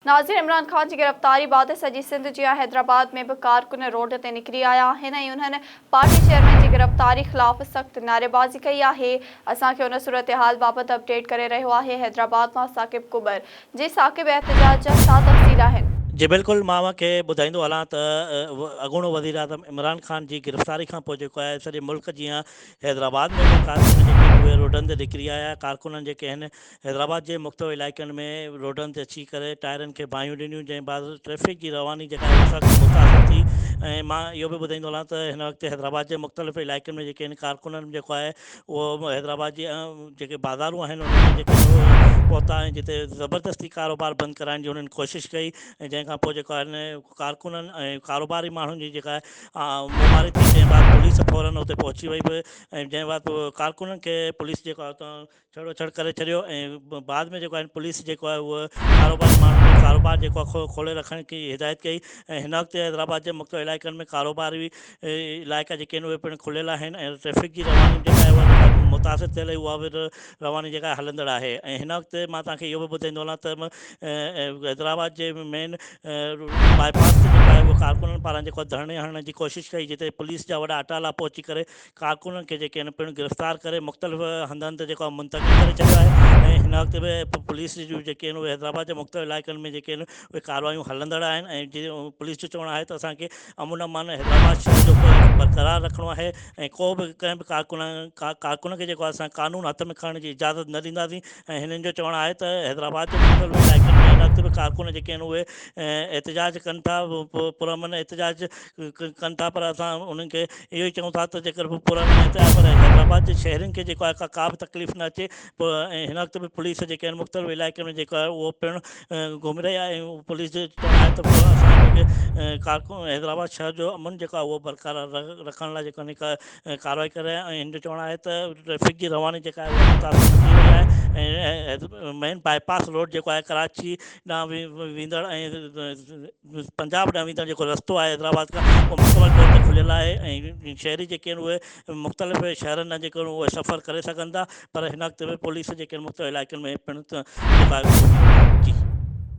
ناظر عمران خان جي گرفتاري بعد سڄي سنڌ جيان حيدرآباد ۾ به ڪارڪن روڊ تي نڪري آيا آهن ۽ انهن پارٽي چيئرمين جي گرفتاري خلاف سخت نعريبازي ڪئي آهي اسان کي ان صورتحال بابت اپڊيٽ ڪري رهيو آهي حيدرآباد مان ثاقب ڪٻر جي ثاقب احتجاج جا ڇا تفصيل آهن؟ جي بلڪل مان اوهان کي ٻڌائيندو هلان ته اڳوڻو وزيراعظم عمران خان جي گرفتاري کان پوء جيڪو آهي سڄي ملڪ جيان حيدرآباد ۾ به ڪارڪن جيڪي اهي روڊن تي نڪري آيا ڪارڪنن جيڪي هن حيدرآباد جي مختلف علائقن ۾ روڊن تي اچي ڪري ٽائرن کي باهيون ڏنيون جنهن بعد ٽريفڪ جي رواني جيڪا آهي ان سان سخت متاثر ٿي ۽ مان اهو به ٻڌائيندو هلان ته هن وقت حيدرآباد جي مختلف علائقن ۾ جيڪي هن ڪارڪنن جيڪو آهي اهو حيدرآباد جي جيڪي بازارون آهن انهن ۾ جيڪي پهتا ۽ جتي زبردستي ڪاروبار بند ڪرائڻ جي انهن ڪوشش ڪئي ۽ جنهن کان پوء جيڪو آهن ڪارڪنن ۽ ڪاروباري ماڻهن جي جيڪا مماري ٿي جنهن بعد پوليس فورن اتي پهچي وئي به ۽ جنهن بعد ڪارڪنن کي پوليس جيڪو آهي اتان ڇڙو ڇڙ ڪري ڇڏيو ۽ بعد ۾ جيڪو آهي پوليس جيڪو آهي اهو ڪاروباري ماڻهن کي ڪاروبار جيڪو آهي کولي رکڻ جي هدايت ڪئي ۽ هن وقت حيدرآباد جي مختلف علائقن ۾ ڪاروباري علائقا جيڪي آهن اهي پڻ کليل آهن ۽ ٽريفڪ جي رواني جيڪا آهي اها جيڪا متاثر ٿيل هئي اها به رواني جيڪا آهي هلندڙ آهي ۽ هن وقت مان توهان کي اهو به ٻڌائيندو هلان ته حيدرآباد جي مين باء پاس تي جيڪو آهي اهو ڪارڪنن پاران جيڪو ڌرڻي هڻڻ جي ڪوشش ڪئي جتي پوليس جا وڏا اٽالا پهچي ڪري ڪارڪنن کي جيڪي آهن پڻ گرفتار ڪري مختلف هنڌن تي جيڪو آهي منتقل ڪري ڇڏيو آهي ۽ هن وقت به پوليس جون جيڪي آهن اهي حيدرآباد جي مختلف علائقن ۾ جيڪي آهن اهي ڪاروايون هلندڙ آهن ۽ جي پوليس جو چوڻ آهي ته اسان کي امن امان حيدرآباد شهر جو برقرار رکڻو آهي ۽ ڪو به ڪنهن به ڪارڪن ڪارڪن کي جيڪو آهي اسان قانون هٿ ۾ کڻڻ جي اجازت نه ڏينداسين ۽ هنن جو چوڻ آهي ته حيدرآباد جي مختلف علائقن ۾ هن وقت به ڪارڪن جيڪي آهن اهي احتجاج ڪن ٿا پرامن احتجاج ڪن ٿا پر اسان انهن کي اهو ئي چئون ٿا ته جيڪر هو پراڻي ۽ طيبه ۽ حيدرآباد جي شهرين کي جيڪو آهي ڪا به تڪليف نه اچي ۽ هن وقت به پوليس جيڪي آهن مختلف علائقن ۾ جيڪو آهي اهو پڻ گهمي رهي آهي ۽ پوليس جو چوڻ آهي ته اسان جيڪي ڪارڪن حيدرآباد شهر جو امن جيڪو آهي اهو برقرار رکڻ لاء جيڪو آهي ڪارروائي ڪري رهيا آهن ۽ هن جو چوڻ آهي ته ٽريفڪ جي رواني جيڪا آهي اها متاثر ٿي رهي آهي ۽ مين باء پاس روڊ جيڪو آهي ڪراچي ڏانهن ويندڙ ۽ پنجاب ڏانهن ويندڙ جيڪو رستو آهي حيدرآباد کان اهو مڪمل طور تي کليل آهي ۽ شهري جيڪي آهن اهي مختلف شهرن ڏانهن جيڪي آهن اهي سفر ڪري سگهن ٿا پر هن وقت پوليس جيڪي آهن مختلف علائقن ۾ پڻ جيڪا آهي